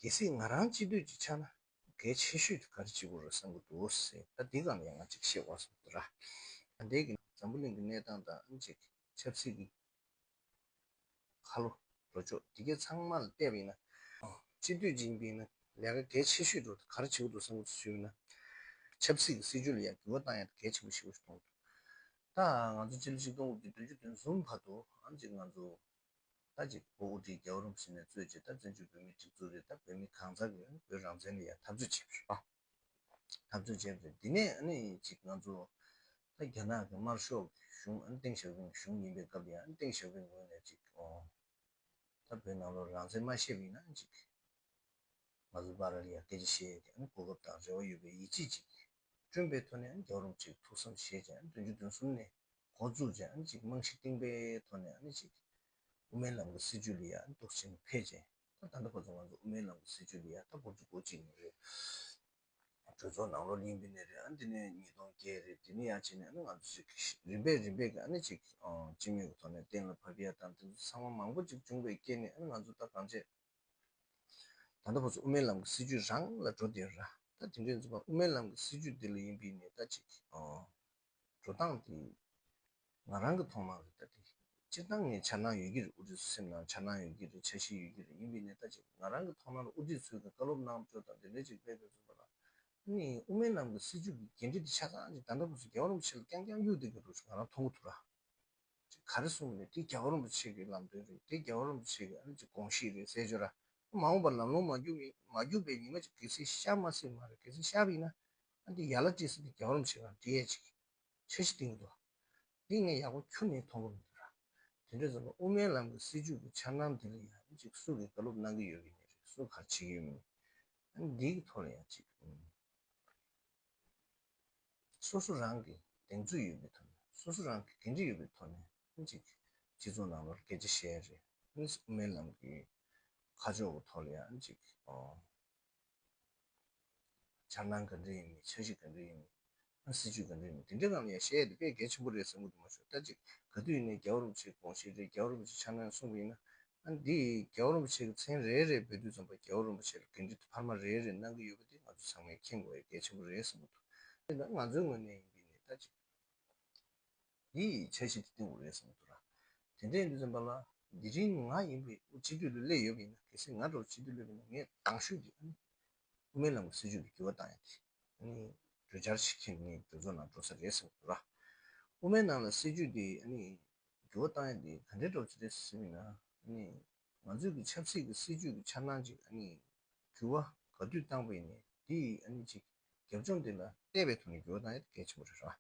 གལ་སྲིད་ང་རང་སྤྱི་འཐུས་ཀྱི་ཆ་ན་གལ་ཆེ་ཤོས་ཀྱི་ག་རེ་བྱེད་དགོས་རེད་བསམ་གྱི་འདུག་ཟེར་ད་འདི་གང་ཡིན་ང་གཅིག་བཤད་དགོས་བསམ་གྱི་རེད། ད་ལྟའི་གི་འཛམ་བུ་གླིང་གི་གནས་སྟངས་དང་ཨང་ཅིག་ཆབ་སྲིད་ཀྱི་ཁ་ལོ་བཟོ་ཕྱོགས་དེ་གས་ཚང་མ་ལ་བལྟས་པ་ཡིན་ན། སྤྱི་འཐུས་ཅིག་ཡིན་པའི་ནང་ལས་ཀ་གལ་ཆེ་ཤོས་ཀྱི་ཁྲོད་དུ་ག་རེ་བྱེད་དགོས་འདུག་བསམ་གྱི་ཟོས་ཡོད་ན། ཆབ་སྲིད་ཀྱི་སྲིད་ཇུས་ལ་ཡང་འགྱུར་བ་བཏང་ཡང་གལ་ཆེན་པོ་ཞིག་ཡོང་གི་འདུག་ད་ང་ཚོ་སྤྱི་ལོ་ཆིག་སྟོང་དགུ་བརྒྱ་དོན་བཅུ་དོན་གསུམ་བར་དུ་ཨང་ཅིག་ང་ཚོ་ད་ཅིག་བོད་དབུས་འབྲི་རྒྱལ་བ་རུང་ཟེར་ནས་རྩོད་ཅིག་ད་བཙན་བྱོལ་བོད་མིའི་སྒྲིག་འཛུགས་རེད་ད་བོད་མི་གང་ཟག་གི་བོད་རང་བཙན་ལ་ཡང་འཐབ་རྩོད་བྱེད་པ་རེད་འཐབ་རྩོད་བྱེད་པ་རེད་འདི་ནས་ཨ་ནི་ཅིག་ང་ཚོ་ད་རྒྱ་ནག་གི་དམར་ཤོག་གི་གཞུང་ཨ་ནི་ཏེང་ཞའོ་ཕིང་གི་གཞུང་ཡིན་པའི་སྐབས་དེ་ཡང་ཨ་ནི་ཏེང་ཞའོ་ཕིང་ངོས་ནས་ཅིག་ད་བོད་ནང་ལོག་རང་བཙན་མ་བཤད་པའི་ནང་ཅིག་ང་ཚོ་སྦ་ར་ལི་ཡར་སྐད་ཆ་བཤད་ཡོད་དེ་ཨ་ནི་གོ་སྐབས་དང་རེ་བ་ཡོད་པའི་ཡིད་ཆེས་ཅིག་བསྐྲུན་པའི་ཐོག་ནས་རྒྱང་རིང་གཅིག་ཐུགས་བསམ་བཞེས་བྱ་བདུན་ཅུ་བདུན་གསུམ་ནས་འགོ་འཛུགས་བྱ་གཅིག་རྨང་གཞི་བཏིང་པའི་ཐོག་ནས་གཅིག་དབུ་མའི་ལམ་གྱི་སྲིད་བྱུས་ལ་ཡང་དོགས་ཞེན་འཕེལ་རྗེས་ད་ལྟ་བར་དུ་ང་ཚོ་དབུ་མའི་ལམ་གྱི་སྲིད་བྱུས་ལ་ཡང་ད་སྐོར་ཅུ་གོ་གཅིག་ནས་རེད། གྲོས་ཚོགས་ནང་ལོ་གླིང་པའི་ནས་རེད་དེ་ནས་ཉིས་སྟོང་བརྒྱད་རེད་དེ་ནས་ཡང་བྱས་ནས་ང་ཚོ་གཅིག་རིམ་པས་རིམ་པས་ཀྱིས་གཅིག་སྤྱི་མོས་ཀྱི་ཐོག་ནས་གཏན་ལ་ཕབ་ཡ་དང་དེ་ཚོ་ཚང་མ་མང་པོ་གཅིག་འབྱུང་བའི་རྐྱེན་ནས་ང་ཚོ་ད་གང་བྱས། ད་ལྟ་ཁོ་ཚོ་དབུ་མའི་ལམ་གྱི་སྲིད་བྱུས་རང་ལ་འགྲོ་འདོད་ཡོད། ད་དེ་འདྲའི་རྩོད་པ་དབུ་མའི་ལམ་གྱི་སྲིད་བྱུས་འདི་ལ་ཡིན་པའི་ནས་ད་ཅིག་འགྲོ་སྟངས་དེ་ང་རང་གི་ཐོག་མ་རེད་ད་དེ་སྤྱིར་བཏང་ངས་འཆར་སྣང་ཡོད་ཀྱི་རེད་དབུ་ཁྲིད་ཚོ་སེམས་ནང་འཆར་སྣང་ཡོད་ཀྱི་རེད་འཆར་གཞི་ཡོད་ཀྱི་རེད་ཡིན་པའི་ནས་ད་ཅིག་ང་རང་གི་ཐོག་མ་ལ་དབུ་ཁྲིད་ཚོའི་གི་བཀའ་སློབ་གནང་སྤྱོད་དང་དེ་འདྲའི་ཅིག་དཔེ་དེ་ཚོ་འདུག་ལ། དེ་ནི་དབུ་མའི་ལམ་གྱི་སྲིད་བྱུས་ཀྱི་འགན་འཁྲི་དེ་ཆ་ཚང་ཅིག་ད་ལྟ་ཁོ་ཚོ་རྒྱལ་བ་རིན་པོ་ཆེ་ལ་རྐྱང་རྐྱང་གཡུག་བསྡད་ཀྱི་རུ་ཆུ་ང་རང་མཐོང་གི་འདུག་ལ། ཅིག་ག་རེ་གསུངས་པ་རེད་དེ་རྒྱ་གར་རིན་པོ་ཆེ་གི་ལམ་སྟོན་རེད་དེ་རྒྱ་གར་རིན་པོ་ཆེ་གི་ཨ་རི་གི་དགོངས་གཞི་རེད་ཟེར་བྱོས་ར། མ་འོངས་པར་ལམ་ལོང་མ་རྒྱུག་ཡིན་མ་རྒྱུག་པའི་ཉི་མ་ཅིག་གལ་སྲིད་ཤར་མ་སྲིད་མ་རེད་གལ་སྲིད་ཤར་བ་ཡིན་ན། ཨ་འདི་ཡར་ལ་བཀྲིས་སེ་འདི་རྒྱ་གར་རིན་པོ་ཆེ་གང་འདྲི་ཡས་ཅིག་འཆར་གཞི་གཏིང་འདུག་འདི་ངས་ཡག་པོ་ཁྱུར་ནས་མཐོང་གི་མི་འདུག་ར། དེ་འདྲས་ཟེར་བ་དབུ་མའི་ལམ་གི་སྲིད་ཇུས་ཀྱི་འཆར་སྣང་འདི་ལ་ཡང་ཨ་ནི་ཅིག་སུ་གིས་དགའ་ལོབ་གནང་གི་ཡོད་ཀྱི་མེད་རེད་སུ་གར་བྱེད་ཀྱི་ཡོད་མེད་ཨ་ནི་འདིའི་ཐོག་ལ་ཡང་ཅིག། སོ་སོ་རང་གི་གདེང་ཚོད་ཡོད་པའི་ཐོག་ནས་སོ་སོ་རང་གི་འགན་འཁྲི་ཡོད་པའི་ཐོག་ནས་ཨང་ཅིག་སྤྱི་ཚོགས་ནང་ལོར་སྐད་ཆ་བཤད་ཡ་རེད་དངོས་སུ་དབུ་མའི་ལམ་གྱི་ཁ་ཕྱོགས་ཀྱི་ཐོག་ལ་ཡང་ཨང་ཅིག་འཆར་སྣང་ག་འདྲ་ཡིན་མིན་འཆར་གཞི་ག་འདྲ་ཡིན་མིན་ཨང་སྲིད་ཇུས་ག་འདྲ་ཡིན་མིན་དེ་འདྲའི་ནང་ལ་ཡང་བཤད་ཡ་དེ་དཔེ་གལ་ཆེན་པོ་རེད་ཟེར་མགོ་དུ་མ་ཤོར་ལྟ་ཅིག་ག་དུས་ཡིན་ནའི་རྒྱ་བོ་རིན་པོ་ཆེའི་དགོངས་བཞེད་རེད་རྒྱ་བོ་རིན་པོ་ཆེ་འཆར་སྣང་གསུངས་པ་ཡིན་ན་འདི་རྒྱལ་བ་རིན་པོ་ཆེ་གི་མཚན་རེ་རེ་འབོད་དུས་རྩོམ་པ་རྒྱལ་བ་རིན་པོ་ཆེ་ལ་འབྲེལ་འདྲིས་འཕར་མ་རེ་རེ་གནང་གི་ཡོད་པ་འདི་ང་ཚོ་ཚང་མས་མཁྱེན་དགོས་པའི་གལ་ཆེན་པོ་རེད་བསམ་གྱི་འདུག་དེ་ནི་ང་ཚོའི་ངོས་ནས་ཡིན་པས་ནི་ད་ཅི་འདི་བྱ་བྱེད་དེ་ལྟེ་བུ་རེད་བསམ་གྱི་འདུག་ར། དེ་འདྲའི་འདི་རྩོམ་པ་ལ་འདི་རིང་ང་ཡིན་པའི་དབུ་སྤྱི་འཐུས་ལ་སླེབས་ཡོད་པ་ཡིན་ན་གལ་སྲིད་ང་འདྲ་བ་སྤྱི་འཐུས་སླེབས་པ་ན་ངས་དྭངས་ཤོས་ཀྱི་ཨ་ནི་དབུ་མའི་ལམ་གྱི་སྲིད་ཇུས་ལ་འགྱུར་བ་བཏང་ཡང་དེ་ཨ་ནི་གྲོས་འཆར་ཞིག་མཁྱེན་ནས་གྲོས་ཚོགས་ནང་འགྲོ་ས་རེད་བསམ་གྱི་འདུག་ར། དབུ་མའི་ནང་ལ་སྲིད་ཇུས་དེ་ཨ་ནི་འགྱུར་བ་བཏང་ཡོད་འདི་ག་འདྲའི་སྒྲོག་བྱེད་རེད་ཟེར་མིན་ན་ནི། ང་ཚོས་ཀྱི་ཆབ་སྲིད་ཀྱི་སྲིད་ཇུས་ཀྱི་འཆར་སྣང་ཅིག་ཨ་ནི། འགྱུར་བ་ག་དུས་བཏང་པ་ཡིན་ནི་འདི་ཡིས་ཨ་ནི་ཅིག་རྒྱབ་ལྗོངས་འདི་ལ་བལྟས་པའི་ཐོག་ནས་འགྱུར་བ་བཏང་ཡོད་གལ་ཆེན་པོ་རེད་རོ།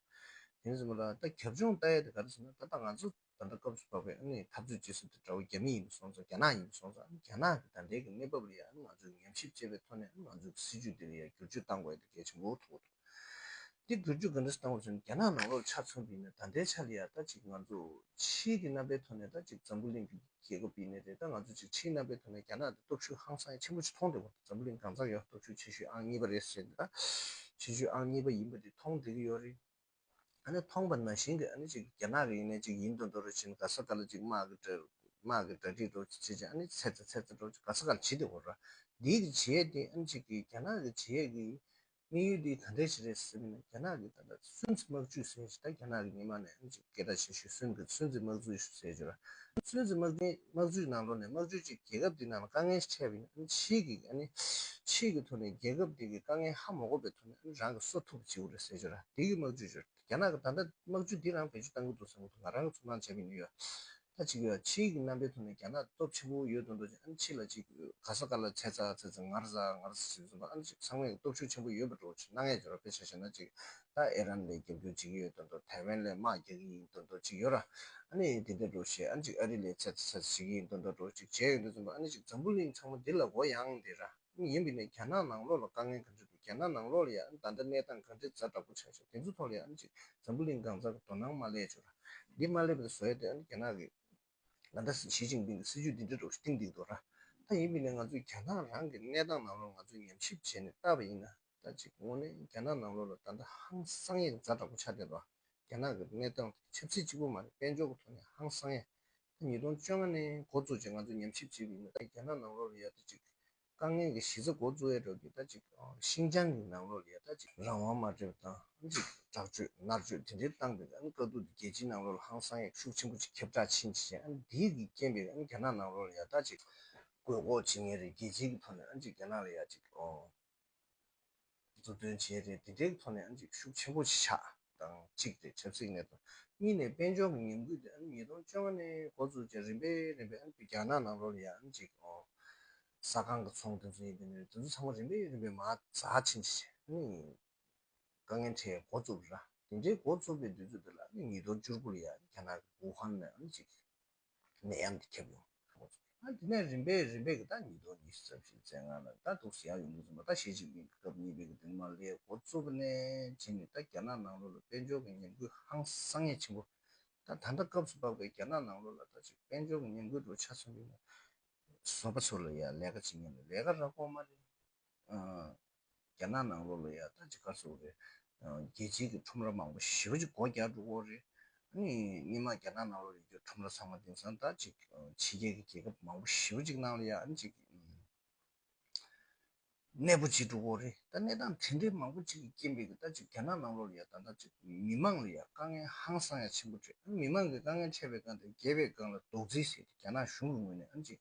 དེ་ནས་བཟུང་མ་ལ་ད་རྒྱབ་ལྗོངས་བལྟ་ཡོད་འདི་ག་རེད་ཟེར་ན་ད་ལྟ་ང་ཚོ་ད་ལྟ་སྐབས་སུ་བབས་པའི་ཨ་ནི་འཐབ་རྩོད་ཅེས་ཟེར་དུས་དགྲ་བོ་རྒྱ་མི་ཡིན་པ་སོང་ཙང་རྒྱ་ནག་ཡིན་པ་སོང་ཙང་ཨ་ནི་རྒྱ་ནག་གི་ད་ལྟའི་གི་གནས་བབས་ལ་ཡང་ཨ་ནི་ང་ཚོས་ཉམས་ཞིབ་བྱས་པའི་ཐོག་ནས་ཨ་ནི་ང་ཚོས་ཀྱི་སྲིད་ཇུས་འདི་ལ་ཡང་བསྒྱུར་བཅོས་བཏང་དགོས་ཡོད་འདི་གལ་ཆེན་པོ་ཐུག་གོ་ཐུག། འདི་བསྒྱུར་རྒྱུ་ག་འདྲ་ཞིག་བཏང་བར་བརྩོན་རྒྱ་ནག་ནང་ལོག་ཆ་ཚང་བསྒྲིགས་ནས་ད་ལྟའི་ཆ་ལ་ཡང་ད་ཅིག་ང་ཚོ་ཕྱིའི་གི་རྣམ་པའི་ཐོག་ནས་ད་ཅིག་འཛམ་བུ་གླིང་གི་རྒྱལ་ཁབ་ཡིན་ནི་རེད་ད་ང་ཚོ་ཅིག་ཕྱིའི་རྣམ་པའི་ཐོག་ནས་རྒྱ་ནག་འདི་སྟོབས་ཤུགས་ཧང་སང་ཆེན་པོ་ཅིག་མཐོང་བདེ་བོ་འདུག་འཛམ་བུ་གླིང་གང་ཙམ་ཡོད་སྟོབས་ཤུགས་ཆེ་ཤོས་ཨང་གཉིས་པ་རེད་ཟེར་ནི་ད་ཆེ་ཤོས་ཨང་གཉིས་པ་ཡིན་པ་འདི་མཐོང་བདེ་གི་ཡོད་རེད་ཨ་ནི་མཐོང་པ་ན་བཞིན་གི་ཨ་ནི་ཅིག་རྒྱ་ནག་གི་ཡིན་ནི་ཅིག་ཡིན་དུ་འགྲོ་རུ་ཕྱིན་ག་ས་ད་ལ་ཅིག་དམག་གི་དྲ་དམག་གི་དྲ་སྒྲིག་འགྲོ་ཅིག་བྱེད་ཅིག་ཨ་ནི་ཅིག་ཚེ་ཚད་ཚད་ཚད་འགྲོ་ཅིག་ག་ས་ག་ལ་བྱེད་བདེ་བོ་ར་འདིའི་གི་བྱེད་ཡས་འདི་ཨ་ནི་ཅིག་གི་རྒྱ་ནག་གི་བྱེད་ཡས་གི་དམིགས་ཡུལ་འདི་ད་འདྲའི་ཞིག་རེད་ཟེར་གྱི་མེད་རྒྱ་ནག་གིས་ད་ལྟ་སུན་གཙི་དམག་ཇུས་ཟེར་བཞིན་ད་རྒྱ་ནག་གི་ཉི་མ་ནས་སྐད་གྲགས་ཆེ་ཤོས་སུན་གཙི་དམག་ཇུས་ཟེར་བཞིན་ཡོད་པ། སུན་གཙི་དམག་ཇུས་དམག་ཇུས་ནང་ལོགས་ནས་དམག་ཇུས་གཅིག་རྒྱལ་ཁབ་འདིའི་ནང་ལ་དཀའ་ངལ་འཕྲད་པ་ཡིན་ཕྱིས་ཀྱི་ཕྱིས་ཀྱི་ཐོག་ནས་རྒྱལ་ཁབ་འདི་གི་དཀའ་ངལ་ཧ་མ་གོ་བའི་ཐོག་ནས་རང་གི་གསོ་ཐུབ་བྱེད་དགོས་རེད་ཟེར་བཞིན་རྒྱ་ནག་གི་དམག་ཇུས་ཇུས་རྒྱ་ནག་གིས་ད་ལྟ་དམག་ཇུས་འདི་རང་བེད་སྤྱོད་གཏང་གི་འདུག་ཟེར་གི་འདུག་ང་རང་གིས་ཚོར་སྣང་བྱས་པ་ཡིན་ཡོད། ད་ཅིག་ཡོད་ཕྱི་ཡིག་གི་རྣམ་པའི་ཐོག་ནས་རྒྱ་ནག་སྟོབས་ཆེན་པོ་ཡོད་དོ་འདོད་ཅིག་ཨ་ནི་ཕྱི་ལ་ཅིག་ག་ས་ག་ལ་ཚད་ཚ་ཚད་ཚ་ངར་ཟ་ངར་ཟ་ཞིག་བཟོ་ན་ཨ་ནི་ཅིག་ཚང་མས་སྟོབས་ཤུགས་ཆེན་པོ་ཡོད་པ་འགྲོ་བ་ཆུ་སྣ་ལྔས་འཇོ་ར་དཔེ་ཆ་བཞག་ན་ཅིག་ད་ཨེ་རན་ལས་རྒྱབ་སྐྱོར་བྱེད་ཀྱི་ཡོད་དོ་འདོད་ཐའེ་ཝན་ལས་དམག་རྒྱག་གི་ཡིན་དོ་འདོད་ཅིག་ཡོད་ར་ཨ་ནི་དེ་འདྲ་འགྲོ་ཞེས་ཨ་ནི་ཅིག་ཨ་རི་ལས་ཚད་ཚ་ཚད་ཚ་བྱེད་ཀྱི་ཡིན་དོ་འདོད་འགྲོ་བ་ཅིག་བྱས་ཡོད་འདོད་ཙམ་པོ་ཨ་ནི་ཅིག་འཛམ་བུ་གླིང་ཚང་མ་འདི་ལ་མགོ་ཡང་འདེད་ར། ནི་ཡིན་པས་ནི་རྒྱ་ནག་ནང་ལོགས་ལ་དཀའ་ངལ་ག་འདྲ་འདུག་རྒྱ་ནག་ནང་ལོགས་ལ་ཡང་ད་ལྟ་གནས་སྟངས་ག་འདྲའི་ཛར་དྲག་པོ་ཆགས་བྱུང་དེ་ཚོའི་ཐོག་ལ་ཡང་ཅིག་འཛམ་བུ་གླིང་སྒང་རྩ་གི་དོ་སྣང་མ་སླེབས་ཆོག་ར་འདི་མ་སླེབས་པ་དེ་བཟོ་ཡ་དེ་ཨ་ནི་རྒྱ་ནག་གིས་ང་ད་ཞི་ཅིང་ཕིང་གི་སྲིད་ཇུས་འདི་འདྲ་འགྲོ་གི་གཏིང་སྡིག་འདུག་ར་ད་ཡིན་པས་ནི་ང་ཚོས་རྒྱ་ནག་རང་གི་གནས་སྟངས་ནང་ལོགས་ང་ཚོས་ཉམས་ཞིབ་བྱས་ནས་བལྟ་བ་ཡིན་ན། ཟླ་གཅིག་སྔོན་ནས་རྒྱ་ནག་ནང་ལོགས་ལ་ད་ལྟ་ཧང་སང་ཡིག་རྫ་འདྲ་པོ་ཆགས་བསྡད་པ། རྒྱ་ནག་གི་གནས་སྟངས་དེ་ཆབ་སྲིད་གཅིག་པུ་མ་རེད་དཔལ་འབྱོར་གྱི་ཐོག་ནས་ཧང་སང་ཡ། ད་ཉིས་སྟོང་བཅོ་ལྔ་ནས་འགོ་བཙུགས་རྗེས་ང་ཚོས་ཉམས་ཞིབ་བྱེད་ཀྱི་ཡོད་ད་རྒྱ་ནག་ནང་ལོགས་ལ་ཡ་ད་ཅིག། དཀའ་ངལ་གྱི་གཞི་རྩ་འགོ་བཙུགས་ཡ་འགྲོ་གི་ད་ཅིག་ཤིང་ཅང་གི་ནང་ལོགས་ལ་ཡ་ད་ཅིག། རང་དབང་མ་སྤྲད་པ་དང་ཅིག་དྲག་སྤྱོད་ནར་སྤྱོད་དེ་འདྲའི་བཏང་པས་དཀའ་སྡུག་དེ་རྒྱལ་སྤྱིའི་ནང་ལོགས་ལ་ཧང་སང་ཡ་ཤུགས་ཆེན་པོ་ཅིག་ཁྱབ་བསྒྲགས་ཕྱིན་ཅི་བྱས་འདིའི་གིས་རྐྱེན་པས་རྒྱ་ནག་ནང་ལོགས་ལ་ཡ་ད་ཅིག། རྒོད་འགོག་བྱེད་ངེས་རེད་རྒྱལ་སྤྱིའི་གི་ཐོག་ནས་ཅིག་རྒྱ་ནག་ལ་ཡ་ཅིག། མཛུབ་སྟོན་བྱས་ཏེ་བདེ་འཇགས་ཐོག་ནས་འཇིགས་ཤུགས་ཆེན་པོ་ཆགས་དང་གཅིག་སྟེ་ཆབ་སྲིད་གནད་དོན། གཉིས་ནས་དཔལ་འབྱོར་གྱི་ཉམས་རྒུད་དེ་ཉིས་སྟོང་བཅོ་ལྔ་ནས་འགོ་བཙུགས་རྗེས་རིམ་པས་རིམ་པས་རྒྱ་ནག་ནང་ལོགས་ལ་ཡང་འཇིགས་སྐོར་ས་ཁང་གི་ཚོང་དེ་ཚོ་ཡིན་དེ་ནས་དེ་ཚོ་ཚང་མ་རིམ་པས་རིམ་པས་མ་རྩ་ཆེན་ཆེ་ཆེ་ནས་དཀའ་ངལ་འཕྲད་འགོ་བཙུགས། དེ་འདྲའི་འགོ་བཙུགས་པའི་དུས་ཚོད་དེ་ལ་ཉིས་སྟོང་བཅུ་དགུ་ལ་ཡང་རྒྱ་ནག་གི་ཝུ་ཧན་ནས་འཇིགས། ནད་ཡམས་འདི་ཁྱབ་ཡོང། དེ་ནས་རིམ་པས་རིམ་པས་ཟླ་གཉིས་ཐོག་ཉི་ཤུ་རྩ་བཞིའི་ཚེས་ལྔ་ལ་ཟླ་གདུགས་ཟེར་ཡག་ཡོང་གི་རེད་མོད་ཟླ་ཞེ་གཅིག་པའི་སྐབས་གཉིས་པའི་དུས་མ་ལྷའི་འགོ་གཙོ་བོ་ནས་བྱས་ནས་ད་རྒྱ་ནག་ནང་ལོ་ལ་དཔལ་འབྱོར་གྱི་ཉམས་རྒུད་ཧང་སང་ངེས་ཆེན་པོ། ད་ད་ལྟ་སྐབས་སུ་བབས་པའི་རྒྱ་ནག་ནང་ལོ་ལ་ད་ཅིག་དཔལ་འབྱོར་གྱི་ཉམས་རྒུད་འགྲོ་ཆ་ཚང་གི་ནས་བཟོ་པ་ཚོ་ལ་ཡང་ལས་ཀ་བྱེད་མཁན་ལ་ལས་ཀ་རག་གོ་མ་རེད། རྒྱ་ནག་ནང་ལོ་ལོ་ཡར་ལྟ་ཅི་དགར་བཟོ་རེད། རྒྱལ་སྤྱིའི་གི་ཁྲོམ་ར་མང་པོ་ཞི་བ་ཅིག་སྒོ་རྒྱག་འགྲོ་དགོས་རེད། ནི་སྙེ་མ་རྒྱ་ནག་ནང་ལོ་ཡོད་རྒྱུ་ཁྲོམ་ར་ཚང་མ་དེང་སང་ལྟ་ཅིག་ཕྱི་རྒྱལ་གི་རྒྱལ་ཁབ་མང་པོ་ཞི་བ་ཅིག་ནང་ལ་ཡར་ཅིག་གནས་པོ་ཅིག་འགྲོ་དགོས་རེད་ད་གནས་སྟངས་དེ་འདྲའི་མང་པོ་ཅིག་རྐྱེན་པས་གི་ལྟ་ཅིག་རྒྱ་ནག་ནང་ལོ་ལོ་ཡར་ལྟ་ལྟ་ཅིག་མི་མང་ལ་ཡར་དཀའ་ངལ་ཧང་སང་ཡར་ཆེན་པོ་འཕྲད་མི་མང་གི་དཀའ་ངལ་འཕྲད་པའི་སྒང་དེར་རྒྱལ་བའི་སྒང་ལ་རྡོག་རྫིས་བཟས་ཏེ་རྒྱ་ནག་གཞུང་གི་ངོས་ནས་ཨང་ཅིག་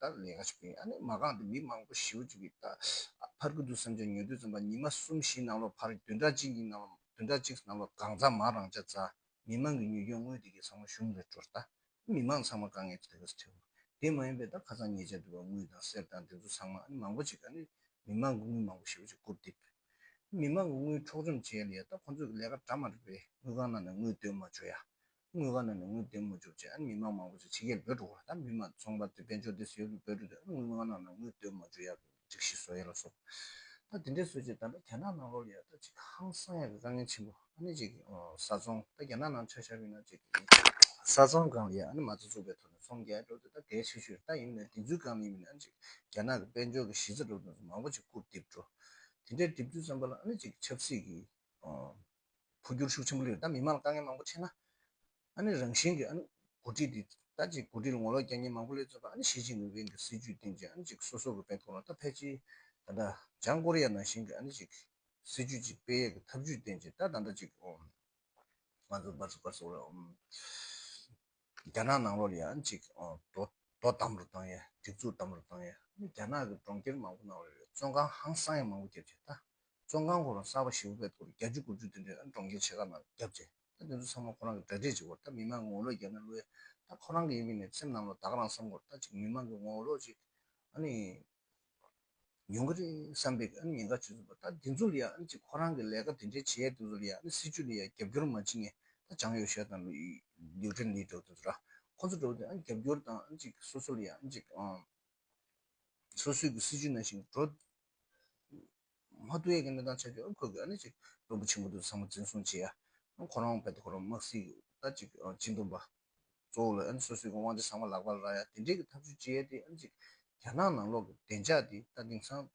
ད་ལས་ཀ་ཞིག་ཕུལ་ཡིན་ཨ་ནི་མ་གང་འདི་མི་མང་པོ་ཞི་བོ་བྱུག་གི་ད་ཕར་གི་འདུག་བསམ་བྱ་ཉོ་དུས་ཙམ་པ་ཉི་མ་གསུམ་བཞི་ནང་ལོག་ཕར་བདུན་ཕྲག་གཅིག་གཉིས་ནང་ལོག་བདུན་ཕྲག་གཅིག་ནང་ལོག་གང་ཚང་མ་རང་ཅག་རྫ་མི་མང་གི་ཉོས་ཀྱང་དངུལ་དེ་གས་ཚང་མ་གཞུང་ལས་སྤྲོར་ད་མི་མང་ཚང་མ་དཀའ་ངལ་དེ་གས་ཐེའུ་དེ་མ་ཡིན་པའི་ད་ཁ་ཚང་ཉེས་ཆ་འདུག་ཨ་དངུལ་དང་གསེར་དང་འདི་ཚོ་ཚང་མ་ཨ་ནི་མང་པོ་ཅིག་ཨ་ནི་མི་མང་གི་དངུལ་མང་པོ་ཞི་བོ་ཅིག་བསྐུར་བསྡིབས་མི་མང་གི་དངུལ་འཕྲོག་བཅོམ་བྱས་ལ་ཡ་ད་ཁོང་ཚོས་ལས་ཀ་གྲ་མ་རིག་པའི་དངུལ་ཁང་ནང་ནས་དངུལ་བཏོན་མ་བྱོ་ཡ་དངུལ་ཁང་ནང་ནས་དངུལ་འདེམས་མ་བཅུག་ཅེས་མི་མང་མང་པོ་ཞིག་ཕྱི་རྒྱལ་འབོད་འགྲོ་གོ་ལ་ད་མི་མང་ཚོང་པ་དེ་དཔལ་འབྱོར་འདི་ཟེར་བའི་འབོད་འགྲོ་དེ་དངུལ་ཁང་ནང་ནས་དངུལ་འདོན་མ་བཅུག་ཡག་གི་རིགས་ཤིག་བཟོ་ཡ་ལ་བཟོ། ད་དེ་འདྲས་བཟོས་རྗེས་ད་ལྟ་རྒྱ་ནག་ནང་ལོག་ཡ་ད་ཅིག་ཧང་སང་ཡ་གི་དཀའ་ངལ་ཆེན་པོ་ཨ་ནི་ཅིག་གི་བཟའ་ཚོང་ད་རྒྱ་ནག་ནང་ཆ་ཤར་བའི་ནང་ཅིག་གི་བཟའ་ཚོང་སྒང་ལ་ཡ་ཨ་ནི་མ་རྩ་བཙུགས་པའི་ཐོག་ནས་ཚོང་རྒྱལ་འགྲོ་དེ་ད་གལ་ཆེ་ཤོས་ད་ཡིན་ནའི་དེ་ཚོའི་སྒང་ལ་ཡིན་པ་ནི་ཨ་ནི་ཅིག་རྒྱ་ནག་གི་དཔལ་འབྱོར་གི་གཞི་རྩ་གྲུབ་དོན་ཚོ་མང་པོ་ཅིག་བཀུར་བསྡིབས་འགྲོ། དེ་འདྲས་བསྡིབས་དུས་ཙམ་པ་ལ་ཨ་ནི་ཅིག་ཆབ་སྲིད་ཀྱི། འཕོ་འགྱུར་ཤུགས་ཆེན་པོ་ལས་ད་མི་དམངས་ལ་དཀའ་ངལ་མང་པོ་ཆེ་ན། ཨ་ནི་རང་བཞིན་གྱི་ཨ་ནི་འགོ་ཁྲིད་དེ་ད་ཅིག་འགོ་ཁྲིད་ལ་ངོ་ལོག་རྒྱ་ཉེ་མང་པོ་ལས་བརྩོན་པ་ཨ་ནི་ཞི་ཅིན་ཕིན་གྱི་སྲིད་ཇུས་སྟེང་ཅིག་ཨ་ནི་ཅིག་སོ་སོ་གི་བེད་ཐོག་ལ་ད་ཕལ་ཆེར་ད་ལྟ་བྱང་ཀོ་རི་ཡ་ནང་བཞིན་གྱི་ཨ་ནི་ཅིག་སྲིད་ཇུས་ཅིག་སྤེལ་ཡས་ཀྱི་ཐབས་ཇུས་སྟེང་ཅིག་ད་ད་ད་ཅིག་ང་ཚོ་སྦར་སོ་སྦར་སོ་ང་ཚོ་རྒྱ་ནག་ནང་ལོགས་ལ་ཡང་ཅིག་དོ་དམ་རུ་བཏང་ཡས་སྒྲིག་འཛུགས་དམ་རུ་བཏང་ཡས་རྒྱ་ནག་གི་གྲོང་ཁྱེར་མང་པོ་ནང་ལོགས་ལ་བཙོན་ཁང་ཧང་སང་ཡས་མང་པོ་བརྒྱབ་རྗེས་ད་བཙོན་ཁང་ཁོ་རང་གསར་པ་ཞེ་བོ་པད་སྐོར་བརྒྱ་བཅུ་དགུ་བཅུ་དེ་འདྲས་གྲོང་ཁྱེར་ཆེ་ཁག་ནང་བརྒྱབ་རྗེས་ད་དེ་ཚོ་ཚང་མ་ཁོ་རང་གི་འདྲ་སྒྲིག་བྱེད་སྐོར་ད་མི་མང་གི་ངོ་ལོག་བརྒྱབ་ན་བློ་ཡས་ད་ཁོ་རང་གི་ཡིན་མིན་ནས་སེམས་ནང་ལོགས་ད་ག་རང་བསམ་སྐོར་ད་ཅིག་མི་མང་གི་ངོ་ལོག་ཅིག་ཨ་ནི། ཉུང་གི་རེད་བསམ་པའི་ཨ་ནི་ཉེན་ཁ་བྱུང་ཟིན་པ་ད་དེ་ཚོ་ལ་ཡང་ཨ་ནི་ཅིག་ཁོ་རང་གི་ལས་ཀ་དེ་འདྲའི་བྱེད་ཡས་དེ་ཚོ་ལ་ཡང་ཨ་ནི་སྲིད་ཇུས་ལ་ཡང་རྒྱབ་སྐྱོར་མ་བྱེད་ངས་ད་ཅང་ཡོ་ཤས་དང་ལིའུ་ཀྲེན་ལི་འགྲོ་བ་དེ་ཚོ་ར་ཁོ་ཚོ་འགྲོ་བ་དེ་ཨ་ནི་རྒྱབ་སྐྱོར་དང་ཨ་ནི་ཅིག་སོ་སོ་ལ་ཡང་ཨ་ནི་ཅིག་སོ་སོས་ཀྱི་སྲིད་ཇུས་ནང་བཞིན་འགྲོ། མ་ཏུ་ཡེ་གེ་མི་དང་ཆ་ཆུ་ཁོལ་གྱིས་ཨ་ནི་ཅིག་དོན་པོ་ཆེན་པོ་དུ་བཟང་པོ་འཛིན་བཟུང་བྱས་ཡ། ཁོ་རང་བད་དུ་ཁོ་རང་དམག་བསིལ་ད་ཅིག་ཅི་འདོམས་པ། གཙོ་བོ་ལ་ཨ་ནི་སོ་སོའི་དབང་ཆ་ཚང་མ་ལག་པར་རག་ཡ་དེ་འབྲེལ་གྱི་ཐབས་བྱུས་ཅི་ཡལ་ཏེ་ཨ་ནི་ཅིག་རྒྱ་ནག་ནང་ལོག་གི་བདེ་འཇགས་འདི་ལྟ་དེང་སང།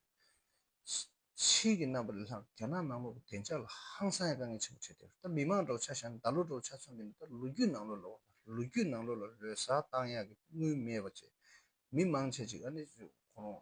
ཕྱིས་ཀྱི་རྣམ་པ་ལས་ལྷག་རྒྱ་ནག་ནང་ལོག་གི་བདེ་འཇགས་ལ་ཧང་སང་ཡང་དཀའ་ངལ་ཆེན་པོ་འཕྲད་དེ་ད་མི་མང་གྲོགས་ཆ་བཞག་ནས་ད་ལོ་གྲོགས་ཆ་ཚང་གི་ནི་ད་ལོ་རྒྱུས་ནང་ལོག་ལ་བ་དང་ལོ་རྒྱུས་ནང་ལོག་ལ་ལོས་བཟའ་བཏང་ཡག་གི་དངུལ་མེད་པ་བཅས་མི་མང་ཆ་ཅིག་ཨ་ནི་ཅིག་ཁོ་རང་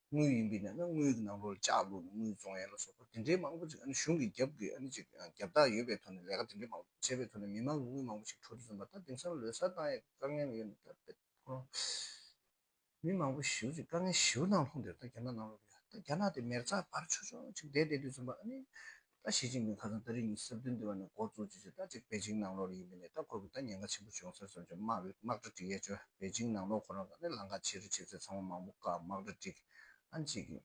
དངུལ་ཡིན་པས་ན་དངུལ་གྱི་ནང་ལོགས་ལ་ལྕགས་བླུགས་ནས་དངུལ་བཙོང་ཡ་ལ་སོགས་པ་དེ་འདྲའི་མང་པོ་ཅིག་གཞུང་གི་རྒྱབ་ཀྱི་རྒྱབ་རྟགས་ཡོད་པའི་ཐོག་ནས་ལས་ཀ་དེ་འདྲའི་མང་པོ་བྱས་པའི་ཐོག་ནས་མི་མང་གི་དངུལ་མང་པོ་ཞིག་འཕྲོག་རྒྱུ་བཟོ་མ་ཐག་དེང་སང་ལོས་སར་བཏང་ཡས་དཀའ་ངལ་ཡོད་མི་ཐུབ་པའི་ཐོག་ནས་མི་མང་པོ་ཞིག་དཀའ་ངལ་ཞིའུ་དང་ལྷུང་སྟེ་ད་རྒྱ་ནག་ནང་ལོགས་ཀྱི་ད་རྒྱ་ནག་དེ་མེར་བཙག་བར་ཆོག་ཆོག་ཅིག་བསྡད་བསྡད་དུས་བཟོ་མ་ཨ་ནི་ད་ཞི་ཅིན་ཕིང་ཁ་སང་ད་རེས་གཉིས་སྲིབ་དོན་འདི་བ་ནས་འགོ་བཙུགས་རྗེས་ཟླ་གཅིག་པེ་ཅིང་ནང་ལོགས་རེ་ཡིན་པའི་ནས་ད་ཁོ་གི་ད་ཉེན་ཁ་ཆེན་པོ་བྱུང་ཟེར་སོང་ཅེས་དམག་རེ་དམག་གྲ་སྒྲིག་ཡས་བཅོས་པེ་ཅིང་ནང་ལོགས་ཁོ་རང་ད་ནས་ལང་ཁ་ཆེ་རེ་བྱེད་ཚད་ཚང་མ་མང་པོ་བཀག་དམག་གྲ་སྒྲིག་ཨ་འཇིག་གི།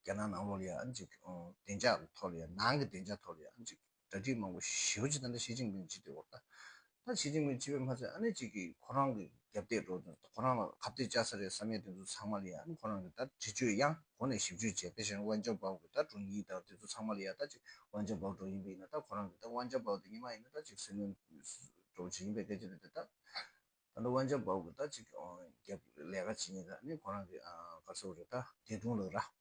རྒྱ་ནག་ནང་ལོགས་ལ་ཡ་ཨ་འཇིག་གི་བདེ་འཇགས་ཐོག་ལ་ཡ་ནང་གི་བདེ་འཇགས་ཐོག་ལ་ཡ་ཨ་འཇིག་གི་གྲ་སྒྲིག་མང་པོ་ཞིའོ་ཅེས་ད་ནས་ཞི་ཅིན་ཕིང་ཇི་ལྟའི་བོར་ད་ད་བྱེད་ཀྱིན་མེད་བྱས་པས་མ་ཚད་ཨ་ནེ་གཅིག་གིས་ཁོ་རང་གི་རྒྱབ་གཏད་འགྲོ་དོན་ཁོ་རང་ལ་ཁ་གཏད་བཅག་ས་རེད་བསམ་ཡས་དེ་ཚོ་ཚང་མ་ལ་ཡ་ཁོ་རང་གིས་ད་འདྲི་གཅོད་གཡང་གོ་ནས་ཞིབ་གཅོད་བྱས་དེ་བཞིན་དབང་ཆ་འབག་དགོས་ད་དྲུང་ཡིག་དང་དེ་ཚོ་ཚང་མ་ལ་ཡ་ད་ཅིག་དབང་ཆ་འབག་འགྲོ་ཡིན་པས་ཡིན་ད་ཁོ་རང་གིས་ད་དབང་ཆ་འབག་དེ་ཉིན་མ་ཡིན་ད་ཅིག་སྲིད་བློན་འགྲོ་བྱེད་ཡིན་པས་སྐད་ཆ་རེད་དེ་ད་ད་ད་དབང་ཆ་འབག་དགོས་ད་ཅིག་རྒྱབ་ལས་ཀ་བྱེད་ཡིན་ད་ཨ་ནེ་ཁོ་རང་གིས་ག་ཚོད་རེད་ད་དེ་དྲུང་ལགས་ར།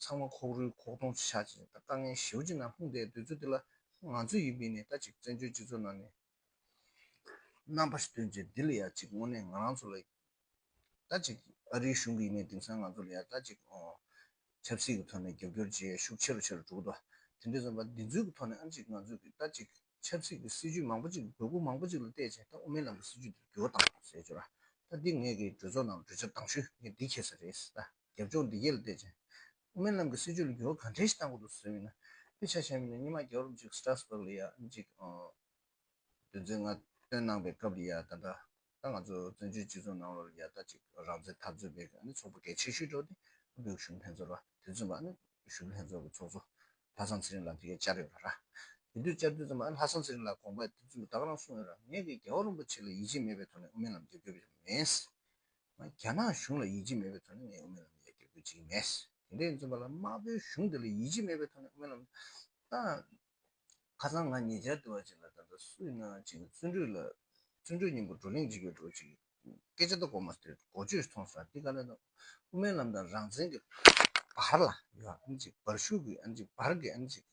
ཚང་མ་ཁོག་རུལ་ཁོག་སྟོང་བྱ་བཞིན་ད་དཀའ་ངལ་ཞེའུ་ཅི་ནང་ལྷུང་བསྡད་འདོད་ཚུལ་དེ་ལ་ང་ཚོས་ཡིད་མི་ནས་ད་ཅིག་བཙན་བྱོལ་སྤྱི་ཚོགས་ནང་ནས་རྣམ་པ་ཞིག་ཐོན་རྗེས་འདི་ལ་ཡ་ཅིག་དངོས་གནས་ང་རང་ཚོ་ལ་ཡིད་ད་ཅིག་ཨ་རིའི་གཞུང་གི་ཡིན་ནའི་དེང་སང་ང་ཚོ་ལ་ཡ་ད་ཅིག་ཆབ་སྲིད་ཀྱི་ཐོག་ནས་རྒྱབ་སྐྱོར་བྱེད་ཤུགས་ཆེ་རུ་ཆེ་རུ་འགྲོ་གི་འདུག་དེ་འདྲས་སོང་བ་འདི་ཚོའི་ཐོག་ནས་ཨ་ཅིག་ང་ཚོས་ཀྱིས་ད་ཅིག་ཆབ་སྲིད་ཀྱི་སྲིད་ཇུས་མང་པོ་ཅིག་དགོས་མཁོ་མང་པོ་ཅིག་ལ་བལྟས་རྗེས་ད་དབུ་མའི་ལམ་གྱི་སྲིད་ཇུས་འདིར་འགྱུར་བ་བཏང་ཟེར་རྒྱུ་ར་ད་འདི་ངེད་ཀྱི་གྲོས་ཚོགས་ནང་གྲོས་འཆར་གདང་ཞུས་ངས་འདི་ཁྱེར་ས་རེད་ད། རྒྱབ་ལྗོངས་བདེ་སྐྱིད་ལ་བལྟས་ཅིང། དབུ་མའི་ལམ་གྱི་སྲིད་ཇུས་ལ་འགྱུར་བ་གང་འཕྲལ་ཞིག་གཏང་དགོས་འདུག་ཟེར་བའི་ན་དཔེ་ཆ་ཞན་པ་ནི་སྙེ་མ་རྒྱ་རོབ་ཅིག Strasbourg ལ་ཡག་ཅིག་དོན་ཚན་ལྔ་བཏོན་གནང་པའི་སྐབས་ལ་ཡག་ད་ལྟ་ད་ང་ཚོ་བཙན་བྱོལ་སྤྱི་ཚོགས་ནང་ལོར་ཡག་ད་ཅིག་རང་བཙན་འཐབ་རྩོད་པའི་ནི་ཚོགས་པ་གལ་ཆེ་ཤོས་འགྲོ་ཏེ་བོད་གཞུང་ལྷན་ཚོགས་ར་དེ་མཚོན་པ་ནི་གཞུང་ལྷན་ཚོགས་ཀྱི་ཚོགས་གཙོ་ལྷ་བཟང་ཚེ་རིང་ལགས་དེ་གས་བཅར་ཡོད་པ་ར། དེ་དུས་བཅར་དུས་ཙམ་ལ་ལྷ་བཟང་ཚེ་རིང་ལགས་དགོངས་པ་དེ་མཚོན་པ་དག་རང་གསུངས་ཡོད་ར་ངས་ཀྱི་རྒྱལ་བ་རིན་པོ་ཆེ་ལ་ཡིད་ཆེས་མེད་པའི་ཐོག་ནས་དབུ་མའི་ལམ་རྒྱབ་སྐྱོར་བྱས་པ་མེད། རྒྱ་ནག་གཞུང་ལ་ཡིད་ཆེས་མེད་པའི་ཐོག་ནས་ངས་དབུ་མའི་ལམ་ཡར་རྒྱས་འགོད་བྱེད་ཀྱི་མེད། དེ་འདྲའི་རྩོམ་པ་ལ་དམར་པོའི་གཞུང་དེ་ལ་ཡིད་ཆེས་མེད་པའི་ཐོག་ནས་དབུ་མའི་ལམ་བཏང། ཁ་སང་ང་ཉེ་ཆར་དུ་བ་ཅིག་ལ་ད་ལྟ་སུ་ཡིན་ནའང་བྱས་ན་བརྩོན་འགྲུས་ལ། བརྩོན་འགྲུས་སྙིང་པོ་བགྲོ་གླེང་བྱེད་དགོས་འགྲོ་བ་ཅིག་གི་སྐད་ཆ་ད་གོ་མ་ཐོས་འགོ་བརྗོད་ཐོང་སོང་འདི་ག་ལ་ན་དབུ་མའི་ལམ་དང་རང་བཙན་གྱི་བར་ལ་ཡོ་ཨ་ཨམ་ཅིག་བར་ཤུགས་ཀྱི་ཨམ་ཅིག་བར་གྱི་ཨམ་ཅིག་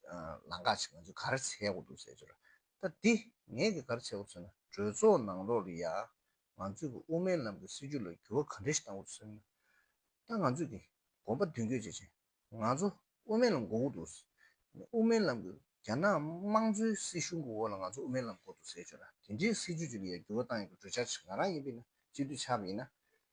ལང་ཀ་ཅིག་ང་ཚོས་གར་བྱས་འོག་འདུག་ཟེར་གྱི་ར་ད་འདི་ངས་གི་གར་བྱས་འོག་ཚོད་ན་གྲོས་ཚོགས་ནང་ལོགས་ལ་ཡ་ང་ཚོས་ཀྱི་དབུ་མའི་ལམ་གྱི་སྲིད་བྱུས་ལ་འགྱུར་བ་ག་འདྲ་ཞིག་བཏང་འོས་སམ། ད་ང་ཚོས་ཀྱི་དགོངས་པ་མདུན་སྐྱོད་བྱེད་ཆེད་ང་ཚོ་དབུ་མའི་ལམ་འགོ་དགོས་འདུག་ཟེར། དབུ་མའི་ལམ་གྱི་རྒྱ་ནག་དམངས་གཙོའི་སྲིད་གཞུང་གི་འོག་ལ་ང་ཚོ་དབུ་མའི་ལམ་འགོ་འདུག་ཟེར་ཆོག་ལ་དེ་འདྲའི་སྲིད་བྱུས་ལ་ཡང་འགྱུར་བ་བཏང་ཡོད་པའི་གྲོས་འཆར་ཞིག་ང་རང་ཡིན་པས་ན་སྤྱི་འཐུས་ཆགས་པ་ཡིན་ན་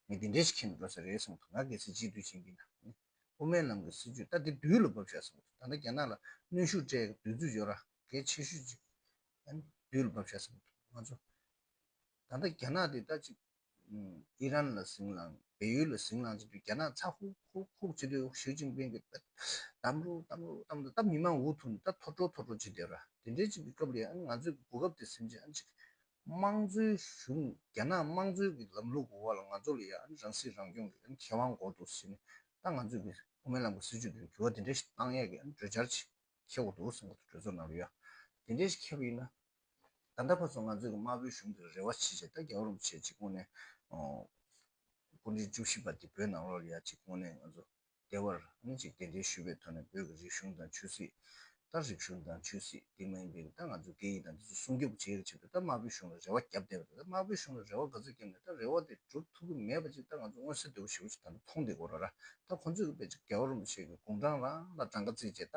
མི་དེ་འདྲས་ཤིག་ཁྱེར་ནས་འགྲོ་ས་རེད་བསམ་འདུག་ང་གལ་སྲིད་སྤྱི་འཐུས་ཡིན་པས་ན་ནི་དབུ་མའི་ལམ་གྱི་སྲིད་བྱུས་ལྟ་སྟེ་དུས་ལ་བབ་ཤག་བསམ་འདུག་ད་ལྟ་རྒྱ་ནག་ལ་གནོན་ཤུགས་སྤྲད་ཀྱི་འདུག་རྫུ་འབྱོར་ར་འགས་ཆེ་ཤོས་ཅིག་ནི་དུས་ལ་བབ་ཤག་བསམ་འདུག་ང་ཚོ། ད་ལྟ་རྒྱ་ནག་དེ་ད་ཅིག་ཨི་རན་ལ་ཟིང་ལངས་བལ་ཡུལ་ལ་ཟིང་ལངས་བྱེད་དུས་རྒྱ་ནག་ཚ་ཧུག་ཧུག་ཧུག་བྱེད་དུས་ཞིའུ་ཅིན་པིང་གིས་གཏམ་རོ་གཏམ་རོ་གཏམ་རོ་ད་མི་མང་འུ་ཐུག་ནས་ད་ཐོར་བྲོ་ཐོར་བྲོ་བྱེད་བསྡད་ར་དེ་འདྲའི་ཅིག་གི་སྐབས་ལས་ཨང་ང་ཚོས་གི་གོ་སྐབས་དེ་སེམས་ཅན་ཨང་ཅིག་དམངས་གཙོའི་གཞུང་རྒྱ་ནག་དམངས་གཙོའི་གི་ལམ་ལུགས་གི་འོག་ལ་ང་ཚོ་ལ་ཡང་ཨང་རང་སྲིད་རང་སྐྱོང་གི་ཨང་ཁེ་དབང་འགོག་འདུག་ཟེར་ནས་ད་ང་ཚོས་གི་དབུ་མའི་ལམ་གི་སྲིད་བྱུས་དེ་འགྱུར་བ་དེ་འདྲ་ཞིག་གཏང་ཡས་གི་ཨང་གྲོས་འཆར་ཅིག་ཁེལ་འོག་འདུག་ཟེར་འགོ་ཚུགས་གྲོས་ཚོགས་ནང་ལ་ཡོད་ཨ་དེ་འདྲས་ཞིག་ཁེལ་བ་ཡིན་ན་ད་ལྟ་བར་དུ་ང་ཚོས་དམར་པོའི་གཞུང་དེར་རེ་བ་བྱེད་ཆེད་ད་རྒྱ་རོམ་བྱེད་ཅིག་སྔོན་ནས་དཀོན་མཆོག་བཅུ་བཞི་པ་དེ་བོད་ནང་ལོགས་ཡ་ཅིག་སྔོན་ནས་ང་ཚོ་བདེ་བར་གནས་ཅིག་གདན་འདྲེན་ཞུས་པའི་ཐོག་ནས་བོད་ཀྱི་རིག་གཞུང་དང་ཆོས་སྲིད་ད་རིག་གཞུང་དང་ཆོས་སྲིད་དེ་མ་ཡིན་པའི་ད་ང་ཚོའི་སྐད་ཡིག་དང་འདི་ཚོ་སྲུང་སྐྱོབ་བྱེད་ཀྱི་ཆེད་དུ་ད་དམར་པོའི་གཞུང་ལ་རེ་བ་བརྒྱབ་བསྡད་པ་དེ་ད་དམར་པོའི་གཞུང་ལ་རེ་བ་ག་ཚོད་བརྒྱབ་ནས་ད་རེ་བ་དེ་འགྲུབ་ཐུབ་ཀྱི་མེད་པ་ཅིག་ད་ང་ཚོ་མངོན་གསལ་དོད་པོ་ཞིག་ཅིག་ད་ལྟ་མཐོང་བསྡད་དགོས་ར་ར་ད་ཁོང་ཚོས་ཀྱི་པེ་ཅིང་རྒྱ་རོམ་བྱེད་ཀྱི་དགུང་གྲངས་ལ་ལ་གྲངས་ཀ་བརྩིས་རྗེས་ད་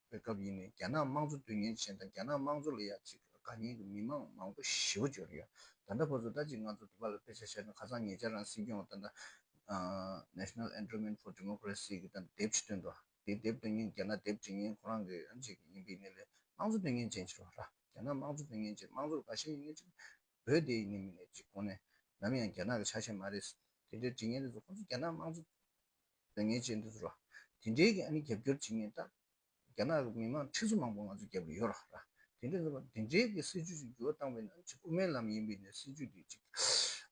པའི་སྐབས་ཡིན་ནས་རྒྱ་ནག་དམངས་གཙོ་དོན་གཉེར་ཅན་དང་རྒྱ་ནག་དམངས་གཙོ་ལ་ཡ་གཅིག་དགའ་ཉེ་གི་མི་མང་མང་པོ་ཞི་བ་འབྱོར་ཡོད། ད་ལྟ་ཁོ་ཚོ་ད་ཅིག་ང་ཚོ་དུ་བ་ལ་དཔེ་ཆ་ཤར་ནས་ཁ་སང་ཉེ་ཆར་རང་སྲིད་སྐྱོང་བ་ཏན་ཏན National Endowment for Democracy གི་དང་དེབ་ཞིག་བཏོན་འདུག་དེའི་དེབ་བཏོན་མཁན་རྒྱ་ནག་དེབ་འབྲི་མཁན་ཁོ་རང་གི་ཨ་མཆིག་ཡིན་པའི་གནས་ལས་དམངས་གཙོ་དོན་གཉེར་ཅན་ཕྱིར་བ་ར་རྒྱ་ནག་དམངས་གཙོ་དོན་གཉེར་ཅན་དམངས་གཙོར་དགའ་ཤས་ཡིན་ནས་ཅིག་བོད་དེ་ཡིན་ནས་མིན་ནས་ཅིག་གོང་ནས་ནམ་ཡང་རྒྱ་ནག་གི་ཆ་ཤས་མ་རེད། དེ་འདྲའི་འབྲི་མཁན་རེ་ཚོ་ཁོ་ཚོ་རྒྱ་ནག་དམངས་གཙོ། ལས་ངན་བྱས་འདུག་ཟེར་བ། དེ་འདྲའི་ནི་རྒྱབ་སྐྱོར་བྱེད་ངེས་རྟགས། རྒྱ་ནག་གི་མི་དམངས་ཁྲི་ཚོ་མང་པོ་ང་ཚོ་རྒྱབ་ཀྱི་ཡོད་ར་ར། དེ་འདྲས་ཟེར་བ། དེ་འདྲའི་གི་སྲིད་ཇུས་ཤིག་འགྱུར་བ་བཏང་བས་ན་ཅིག་དབུ་མའི་ལམ་ཡིན་པས་ནི་སྲིད་ཇུས་དེ་ཅིག་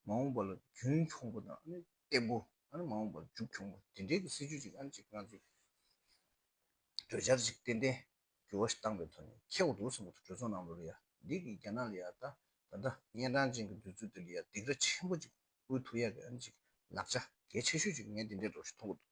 མ་འོངས་པ་ལ་རྒྱུན་འཁྱོངས་པོ་དང་ནི་སྟེགས་བུ་ནི་མ་འོངས་པར་མཇུག་འཁྱོངས་པོ་དེ་འདྲའི་གི་སྲིད་ཇུས་ཅིག་ཨ་ནི་ཅིག་ང་ཚོས་གྲོས་འཆར་ཅིག་ཏན་ཏན་འགྱུར་བ་ཞིག་བཏང་པའི་ཐོག་ནས་ཁེགས་འདུག་ཟེར་མོ་ཐུག་གྲོས་ཚོགས་ནང་ལོ་རེ་ཡ་འདི་གི་རྒྱ་ནག་ལ་ཡ་ད་ད་ད་ད་གཉན་འཕྲང་ཅན་གི་འདོད་ཚུལ་དེ་ལ་ཡ་སྡིགས་ར་ཆེན་པོ་ཅིག་ཨུའི་ཐུགས་ཡག་གི་ཨམ་ཅིག་ལགས་ཆ་གལ་ཆེ་ཤོས་ཅིག་ངས་འདི་འདྲའི་སྒྲོག་གཞི་མཐོང་གི་འདུག།